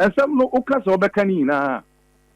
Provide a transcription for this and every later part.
Ɛsɛm no woka sɛ wobɛka ne nyinaa a,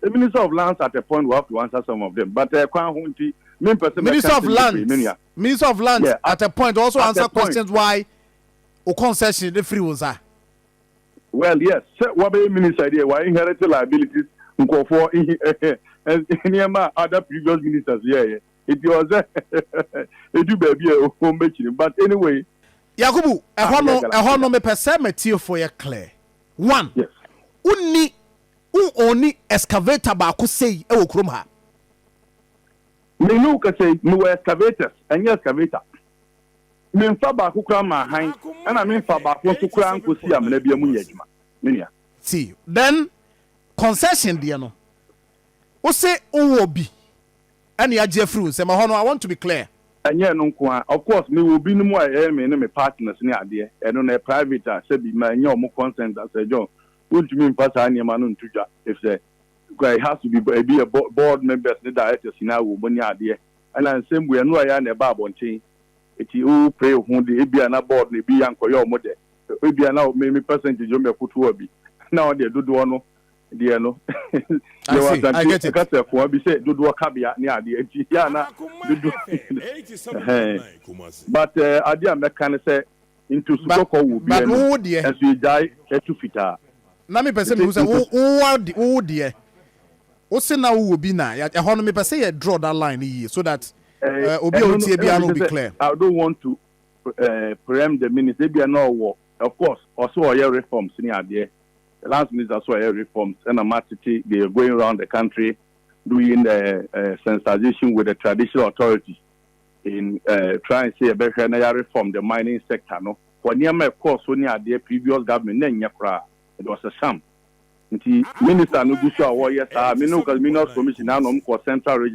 the minister of lands at a point will have to answer some of them but eh, kwan ho nti mempɛ sɛ mɛka Minister of nsɛm bebree, me lands, nua. minister of lands Yeah, at at a point will also at a answer point. questions why wo concession no firi wo nsa. Well yes, sɛ wabɛyɛ minister deɛ wa inherit liabilities nkurɔfoɔ nhi nneɛma a other previous ministers yɛɛyɛ nti ɔwɔ sɛ ɛdu baabi a wɔbɛkyiri no but anyway Yakubu, ah ɛhɔ no, yɛagala ɛhɔ no yɛagala. mepɛ sɛ m'atiefoɔ yɛ clear. One, wo nni, wo ɔnni excavator baako sei wɔ kurom ha? Me ne wo kasa yi, mewɔ excavators, ɛnyɛ excavator. Me nfa baako koraa mmaa han, ɛna me nfa baako nso koraa nkɔsii amena biara mu nyɛ adwuma, me nua. Ti, then concession deɛ no, wo se wo wɔ bi, ɛne agye afiri wo nsam. Ɛhɔ no, I want to be clear. Ɛnyɛ ɛno nko ara, of course, me wɔ binom a ɛyɛ me ne me partners ne adeɛ, ɛno no, ɛyɛ private a, sɛbi, mannya wɔn consent a, Sir John, wontumi mfa saa nneɛma no nto dwa, efisɛ, it has to be, ebi yɛ bo, board members ne directors nyinaa wɔ mu ne adeɛ, ɛna nsɛm bu, ɛno ɛyɛ a na ɛba abɔnten, eti wo pray wo ho de, ebia na board no ebi ankɔyɛ wɔn dɛ, ebia na me, me percentage wɔn bɛkotow a bi, na wɔn deɛ dodoɔ no, deɛ no yɛwɔ asante ɛka sɛ koa bi sɛ dodoɔ kabea ne adeɛ nti yɛ ana dodoɔ but uh, adeɛ a mɛka ne sɛ ntosu kɔkɔɔ wɔ bi anim ɛnso yɛgyae ɛtu fitaa na mepɛ sɛ mehu sɛ wowo deɛ wo se na wowɔ bi na ɛhɔ no mepɛ sɛ yɛ draw that line no yie so that uh, obi a wotie biara no will be clear I don't want to uh, preempt the minister ebia na ɔwɔ of course ɔsɛ ɔyɛ reforms ne adeɛ The lands minister so ɔyɛ reforms ɛna ma tete they are going round the country doing uh, uh, sensitization with the traditional authorities in uh, trying sɛ yɛbɛhwɛ na yɛ reform the mining sector no for nneɛma ɛkɔɔ so ne adeɛ previous government na ɛnyɛ koraa it was a sham nti minister no gu so a wɔyɛ saa me no ka minerals commission na anom kɔ central region